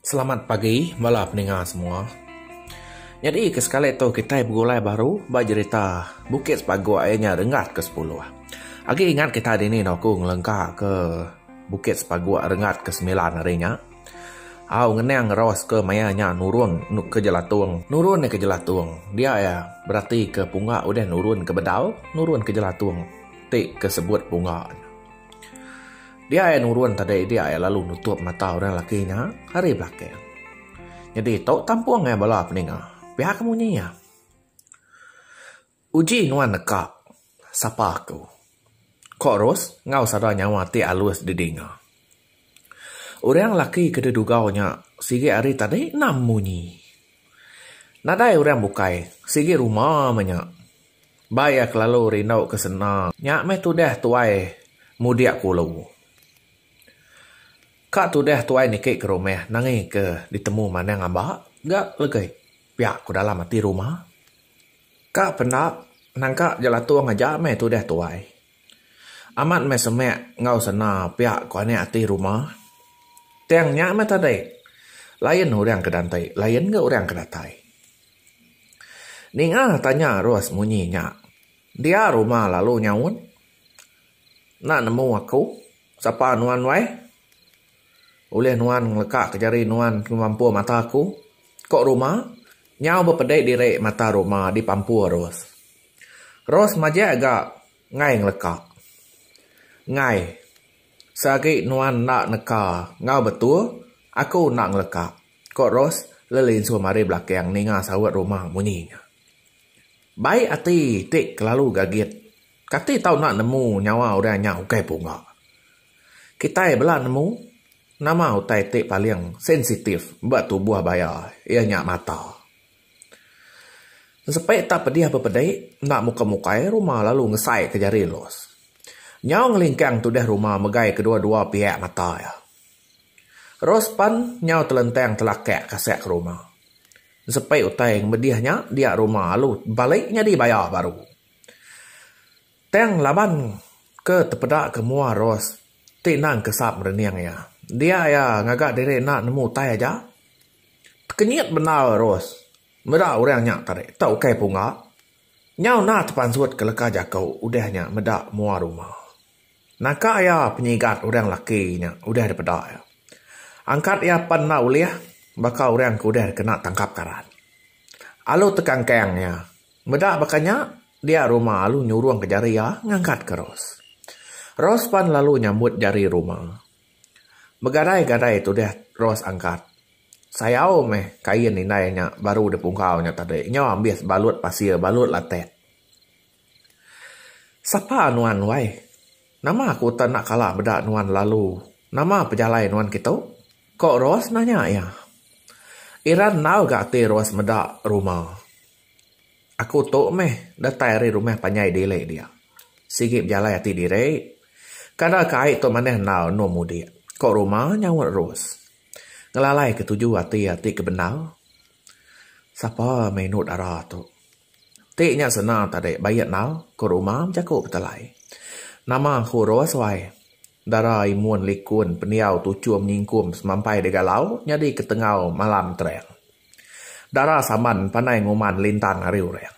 Selamat pagi bala peninga semua. Nyadi ke sekali tu kitai begulai baru ba jerita Bukit Sepagok iya nya Renggat ke Sepuluh. Agi ingat kitai dini enggau aku ngelengka ke Bukit Sepagok Renggat ke Semilan hari nya. Au ngening Ros ke maya nya nurun ndek ke jelatung, nurun ndek ke jelatung. Dia iya berati ke punga udah nurun ke bedau, nurun ke jelatung ti ke sebut punga. Dia ai nurun tadi dia ai lalu nutup mata orang laki nya ari belakang. Nyadi tu tampung ai bala peninga. Pia ke munyi iya. Uji nuan neka sapa aku. Ko Ros enggau sada nyawa ti alus didinga. Orang laki ke didugau nya sigi ari tadi enda munyi. Nadai orang bukai sigi rumah mah nya. Ba iya kelalu rindu ke sena. Nya meh tudah tuai mudik kulu. Ka tudah tuai niki ke rumah nangi ke ditemu manang amba ga legi pia ku dalam ati rumah. Ka penda nangka jelatung aja meh tudah tuai. Amat meh semak enggau sena pia ku anak ati rumah. Tang nya meh tadi lain orang ke dianti lain ga orang ke datai. Ninga tanya Ros munyi nya, dia rumah lalu nyaun enda nemu aku. Sapa nuan wai? Ulih nuan ngeleka ke jari nuan ngemampur mata aku? Ko rumah nyau bepedek diri mata rumah dipampur Ros. Ros majek ga enggai ngeleka. Enggai. Seagi nuan enda neka enggau betul, aku enda ngeleka. Ko Ros lelinsur mari belakang ninga saut rumah munyi nya. Bai ati ti kelalu gagit. Kati tau enda nemu nyawa orang nya ukai punga. Kitai bela nemu nama utai ti paling sensitif ba tubuh baya iya nya mata. Sepi tak pedih bepedi enda muka mukai rumah lalu ngesai ke jari Ros. Nyau ngelingkang tudah rumah megai kedua dua piak mata iya. Ros pan nyau telentang telakak ke asak ke rumah. Sepi utai ngemedih nya dia rumah lalu balik nyadi bayar baru. Tang laban ke tepeda ke mua Ros ti nang kesap ngerening iya. Dia iya ngaga diri enda nemu utai aja. Tekenyit bendar Ros meda orang nya tadi tau ukai punga. Nyau enda tepansut ke leka jaku udah nya meda mua rumah. Naka iya penyigat orang lelaki nya udah dipeda iya. Angkat iya pen enda ulih baka orang ke udah dikena tangkap karan. Alu tekangkang iya. Meda baka nya, dia rumah alu nyurungka jari iya ngangkatka Ros. Ros pan lalu nyambut jari rumah. Begadai-gadai tudah Ros angkat. Sayau meh kain indai nya baru dipungkau nya tadi. Nyau ambis balut pasir, balut latek. Sapa nuan wai? Nama aku uta enda kala meda nuan lalu? Nama pejalai nuan kitu? ko Ros nanya iya. Ira enggau ga ati Ros meda rumah. Aku tu meh datai ari rumah panjai dili dia. Sigi bejalai ati diri. Kada ka ai tu manah enggau anu mudik, ko Ruma nyaut Ros. Ngelalai ketuju ati iya ti ke bendar. Sapa meh inu dara tu. Ti nya senang tadi bayi enal ku rumah bejaku petelai. Nama ku Ros wai. Dara imun likun pendiau tuchum nyingkum semampai digalau nyadi ketengau malam tereng. Dara samban panai nguman lintang ari orang.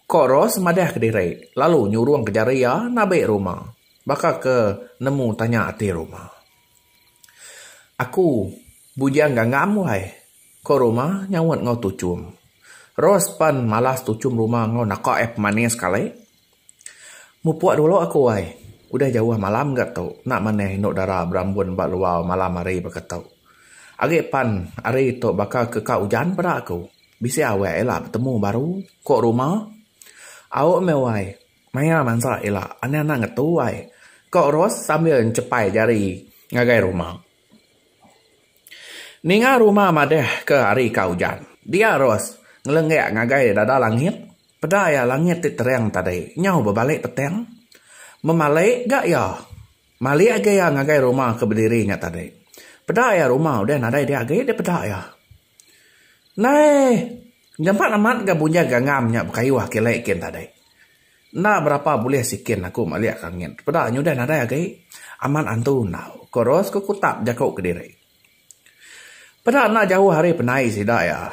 Kok Ros madah ke diri lalu nyurung ke jari iya nabi rumah. Baka ke nemu tanya ati rumah. Aku bujang ganggam wai, ko rumah nyaut enggau tuchum. Ros pen malas tuchum rumah enggau naka iya pemanis sekali. Mupuk dulu aku wai, udah jauh malam ga tu enda manah indu dara berambun ba luar malam hari baka tu. Agi pan hari tu baka ke ka ujan peda aku. Bisi awak ila betemu baru ko rumah. Au meh wai. Maya mansa ila anang anang ngetu ai. Ko Ros sambil ngechepai jari ngagai rumah. Ninga rumah madah ke hari ka ujan. Dia Ros ngelenggak ngagai dada langit. Peda iya langit ti terang tadi nyau bebalik petang. Memalik ga iya. Malik agi iya ngagai rumah ke bediri nya tadi. Peda iya rumah udah nadai dia agi dipeda iya. Nai, jampat amat ga bunja gangam nya bekayuh agi lei kin tadi. Enda berapa bulih sikin aku malik rangit peda nya udah nadai agi. Amat antu enggau, chorus ku kutak jaku kediri. Peda enda jauh ari penai sida iya,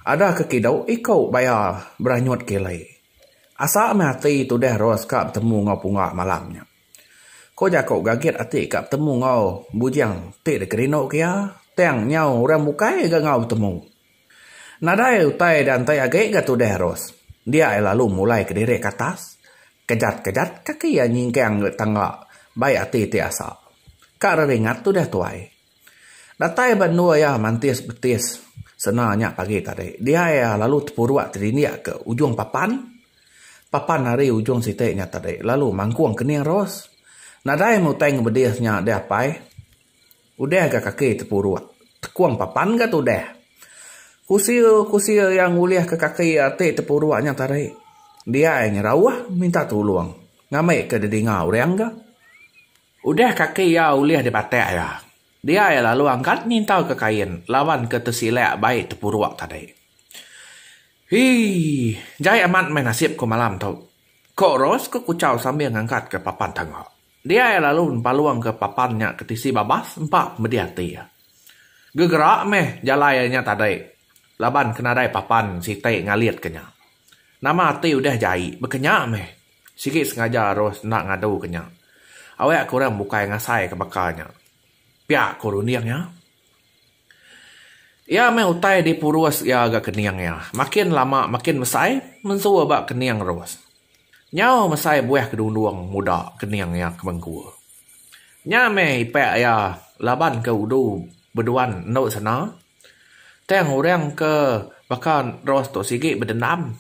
adah ke kidu iku baya beranyut ke lei. Asa meh ati tudah Ros ka betemu enggau Punga malam nya. Ko jaku gagit ati ka betemu enggau bujing ti dikerindu ke iya tang nyau orang bukai ga enggau betemu. Nadai utai da enti agi ga tudah ros. Dia iya lalu mulai kediri ke atas kejat kejat kaki iya nyingkang neg tangga baik ati ti asa. Ka reringat tudah tuai. Datai ba endur iya mantis betis sena nya pagi tadi. Dia iya lalu tepuruk terindik ke ujung papan. Papan ari ujung siti nya tadi lalu mangkung kening ros. Nadai meh utai ngebedis nya deh apai. Udah ga kaki tepuruk tekung papan ga tu udah. Kusil kusil iya ngulih ke kaki iya ti tepuruk nya tadi. Dia iya nyerauh minta tulung ngambi ke didinga orang ga. Udah kaki iya ulih dibatak iya, dia iya lalu angkat nyintauka kain laban ke tesilak bai tepuruk tadi. Hii, jai amat meh nasib ku malam tu, ko Ros ke Kuchao sambil ngangkatka papan tangga. Dia iya lalu npalungka papan nya ke tisi babas empa pemedih ati iya. Gegerak meh jalai iya nya tadi laban ke nadai papan siti ngalitka nya. Nama ati udah jai, baka nya meh. Sigi sengaja Ros enda ngadu ke nya. Awek aku orang bukai ngasai ke baka nya. Pia ku runding iya. Iya meh utai dipurus iya ga kening iya. Makin lama makin mesai mensur ba kening Ros. Nyau mesai buah kedundung muda kening iya ke mengkur. Nya meh ipek iya laban ke udu beduan endu sena. Tang orang ke baka Ros tu sigi bedendam.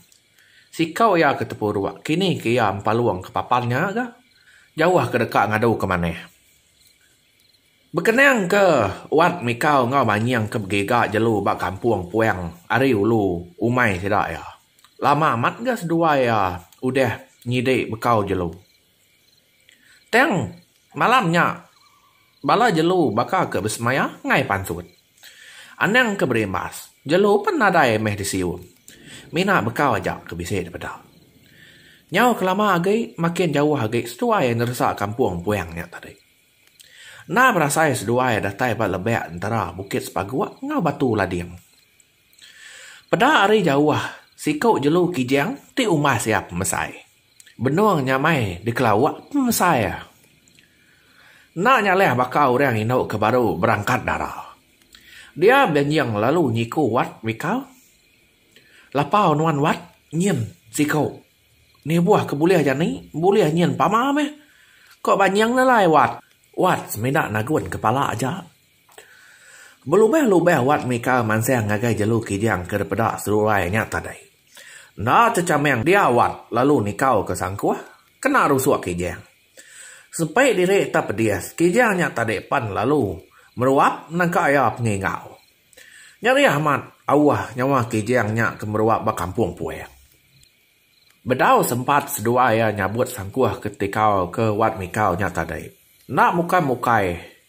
Sikau iya ke tepuruk kini ke iya empalung ke papan nya ga jauh ke deka ngadu ke manah. Bekenang ke Wat Mikau enggau Manying ke begiga jelu ba kampung Puang ari ulu umai sida iya, lama amat ga seduai iya udah nyidi bekau jelu. Tang malam nya bala jelu baka ke besemaya enggai pantut. Anang ke berimbas, jelu pen nadai meh disium. Mina beka aja ke bisi dipeda. Nyau ke lama agi makin jauh agi seduai neresa kampung puang nya tadi. Enda berasai seduai datai ba lebak entara Bukit Sepaguk enggau Batu Lading. Peda ari jauh, siku jelu kijang ti umbas iya pemesai. Benung nyamai dikelawa pemesai iya. Enda nyalih baka orang indu ke baru berangkat dara. Dia benjing lalu nyiku wat mika. Lapau nuan wat nyin siku. Nibuh ke bulih jani, bulih nyin pama meh. Ko banjing nelai wat, wat semina nagun kepala aja. Belubeh-lubeh wat mika mansang ngagai jelu kijang ke dipeda serurai nya tadai. Enda chechameng dia wat lalu nikau ke sangkuh, kena rusuk kijang. Sepi diri tak pedis, kijang nya tadi pan lalu meruap nangka iya pengingau. Nyerih amat auh nyawa kijang nya ke meruap ba kampung puang. Bedau sempat seduai iya nyabut sangkuh ke tikau ke wat mikau nya tadi. Enda mukai-mukai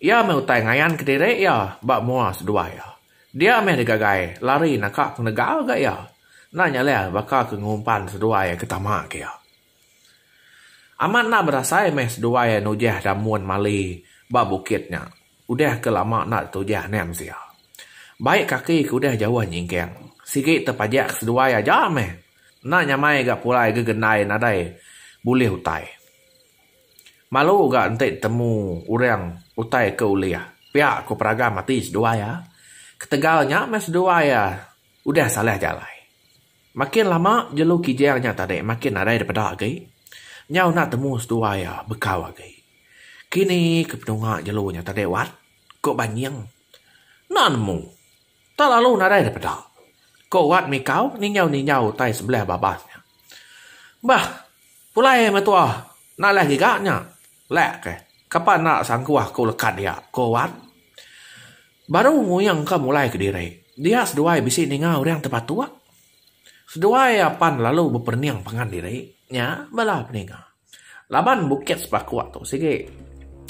Iya meh utai ngayan kediri iya ba mua seduai iya. Dia meh digagai lari naka pengenegal ga iya enda nyelil baka ke ngumpan seduai ke tama ke iya. Amat enda berasai meh seduai nujih damun mali ba bukit nya udah ke lama enda ditujih anim sia. Bai kaki ke udah jauh nyingking, sigi tepajik seduai aja meh enda nyamai ga pulai gegendai nadai bulih utai. Malu ga enti temu urang utai ke ulih pia ku peragam ati seduai iya. Ketegal nya meh seduai iya udah salah jalai. Makin lama jelu kijang nya tadi makin nadai dipeda agi. Nyau enda temu seduai iya bekau agi. Kini ke penunga jelu nya tadi wat ku ba nying. Enda nemu. Tak lalu nadai dipeda. Ku wat mikau ningau-ningau utai sebelah babas nya. Bah. Pulai meh tua, enda alai giga nya. Lek ke, kapa enda sangkuh aku lekat dia, ko Wan. Baru nguyung ka mulai kediri, dia seduai bisi ninga orang tepatuk. Seduai apan lalu beperening pangan diri, nya bala peniga. Laban bukit sepakuk tu sigi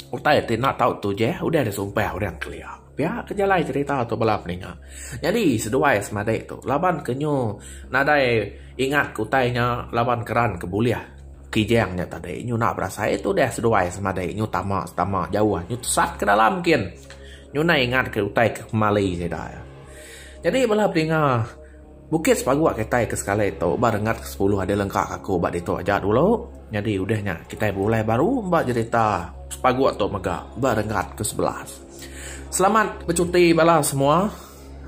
utai ti enda tau tujih udah disumpah orang kelia. Pia ke jalai cerita tu bala peninga. Nyadi seduai semadik tu laban ke nyu nadai ingat ke utai nya laban keran ke bulih Kijang nya tadi nyu enda berasai tudah seduai semadik nyu tama setama jauh nyu tesat ke dalam gin nyu enda ingat ke utai ke kemali sida. Nyadi bala peninga bukit sepaguh kitai ke sekali tu ba renggat ke sepuluh deh lengka ke aku ba ditu aja dulu nyadi udah nya kitai berulai baru ba cerita sepaguh tu mega ba renggat ke sebelas. Selamat becuti bala semua.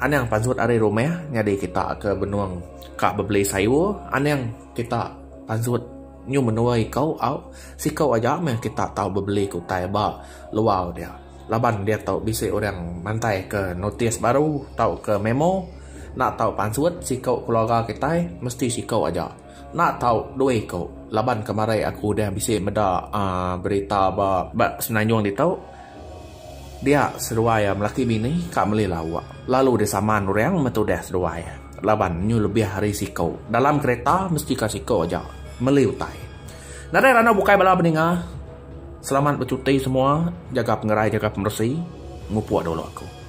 Anang pansut ari rumah nyadi kita ke benung ka bebeli sayur. Anang kita pansut nyu menua iko au siko aja meh kita tau bebeli ke utai ba luar dia. Laban dia tau bisi orang mantai ke notis baru tau ke memo enda tau pansut siko keluarga kitai mesti siko aja. Enda tau doi ko laban kemarai aku udah bisi meda aaa berita ba ba semenanjung ditu dia seduai melaki bini ka meli lauk lalu di saman orang meh tudah seduai laban nyu lebih ari siko dalam kereta mesti ka siko aja meli utai. Nadai randau bukai bala beninga selamat becuti semua jaga pengerai jaga pemeresi mupuk dulu aku.